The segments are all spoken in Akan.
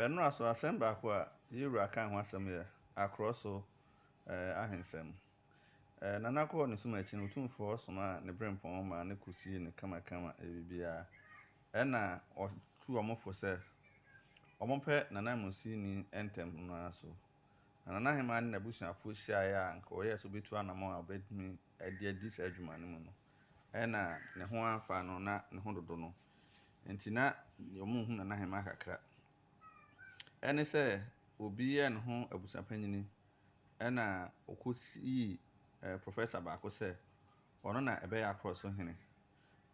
Ɛnora so asɛm baako a ye wura kaa ho asɛm yɛ akorɔ so ahensɛm. Nana Korɔ ne sum akyi no Otumfoɔ somaa ne brempɔn maa no ko sii no kamakama yɛ biribiara. Ɛna ɔtu wɔn fo sɛ wɔn pɛ Nana Amusini ntɛm no ara so. Na Nana Ahemaa ne n'abusuafoɔ hyiaeɛ a nka ɔyɛɛ sɛ ɔbɛtu anamɔn a ɔbɛtumi de adi saa adwuma no mu no, na ne ho amfa no, na ne ho dodo no nti, na wɔnhu Nana Hemaa kakra. Ɛne sɛ obi yɛɛ ne ho abusuapanyini, ɛnna wɔkɔsii professor baako sɛ ɔno na ɛbɛyɛ akorɔso hene.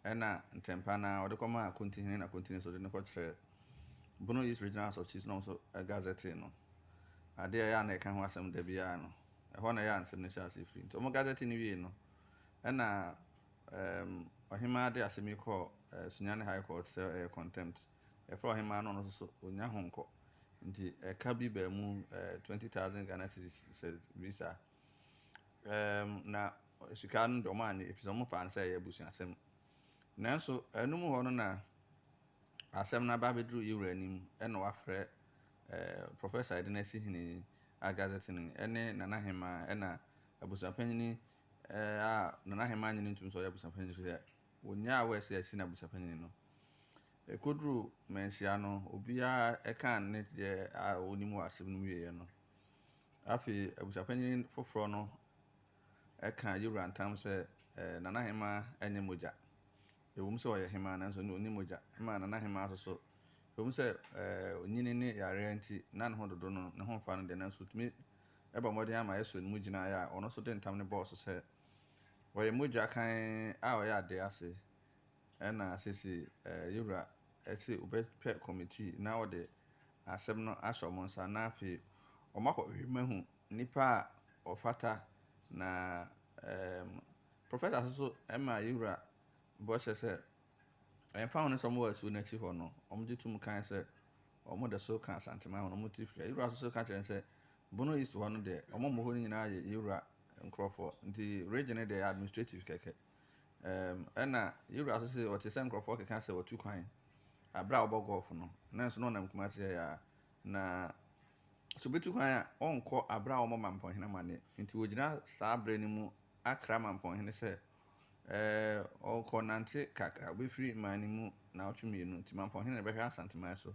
Ɛnna ntɛmpa no ara, wɔde kɔmaa Akonti hene, na Akonti nso de no kɔkyerɛɛ Bonois Regional Asɔfokyies na wɔn nso gazetee no, adeɛ a ɛyɛ a na yɛka ho asɛm da biara no. Ɛhɔ na ɛyɛ a nsɛm no hyɛɛ aseɛ firii. Nti wɔgazetee no wiei no, ɛnna um, ɔhemaa de asɛm yi kɔɔ uh, Sunyani High Court sɛ ɛyɛ contempt. Ɛfrɛ ɔhemaa no ɔno nso so ɔnya ho nkɔ. Nti ɛka bi baa mu uh, 20,000 Ghana cedis sɛ visa. Ɛɛm, na sika no deɛ wɔannye efisɛ wɔfaa no sɛ ɛyɛ abusuasɛm. Nanso ɛno mu hɔ no na asɛm no aba abɛduru Ewura anim na wafrɛ ɛɛm Professor Edina-Asihene Agazetini ne Nana Ahemaa ɛna abusuapanyin ɛɛm a Nana Ahemaa nnye no ntom sɛ ɔyɛ abusuapanyin efisɛ wɔnyaa awɔ a ɛsɛ sɛ yɛse no abusuapanyin no. Ɛkɔduru manhyia no, obiara kaa ne deɛ a ɔnim wɔ asɛm no mu wieeɛ no, Afei abusuapanyin foforɔ no ka Yewura ntam sɛ, Ɛɛ, Nana Hemaa nyɛ mogya. Ɛwom sɛ ɔyɛ hemaa nanso na ɔnni mogya. Ɛma Nana Hemaa nso so, ɛwom sɛ ɔnyini ne yareɛ nti na ne ho dodo no, ne ho mfa no deɛ, nanso ɔtumi bɔ mmɔden ara ma ɛsɔ ne mu gyinaeɛ a ɔno nso de ntam no bɔɔ so sɛ, Ɔyɛ mogya kann a ɔyɛ adeɛ ase Ɛna sese eh, Yewura se wobɛpɛ kɔmitii na wɔde asem no ahyɛ wɔn nsa na afei wɔakɔhwehwɛ mu ahu nnipa a wɔfata na em, Professor so so ma Yewura bɔhyɛ sɛ ɛmfa ho ne sɛ wɔwɔ asuo no akyi hɔ no, wɔgye tom kan sɛ wɔde so ka Asanteman ho na wɔn ti firi. Yewura so so ka kyerɛ no sɛ Bono East hɔ no deɛ wɔn a wɔwɔ hɔ no nyinaa yɛ Yewura nkurɔfoɔ nti region no deɛ ɛyɛ administrative kɛkɛ. Ɛna yɛwura so sɛ ɔte sɛ nkurɔfoɔ keka sɛ watu kwan aberɛ a ɔbɔ gɔɔfo no nanso na ɔnam Kumasi ha ya na sɛ ɔbɛtu kwan a ɔnkɔ aberɛ a ɔmɔ mampɔnhene amane nti ɔgyina saa berɛ no mu akra mampɔnhene sɛ ɔkɔ nante kakra ɔbɛfiri mmaa no mu naawɔtwe mmienu nti mampɔnhene na bɛhwɛ asanteman so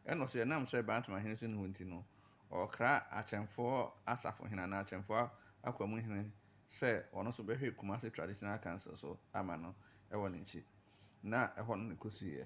ɛna ɔsɛ ɛnam sɛ bantama hene so ne hɔ nti no ɔkra akyɛmfoɔ asafohene anaa akyɛmfoɔ akwamuhene sɛ ɔno nso bɛhwɛ Kumasi Traditional Council so ama no wɔ ne nkyi, na ɛhɔ na na ɛkɔsiiɛ.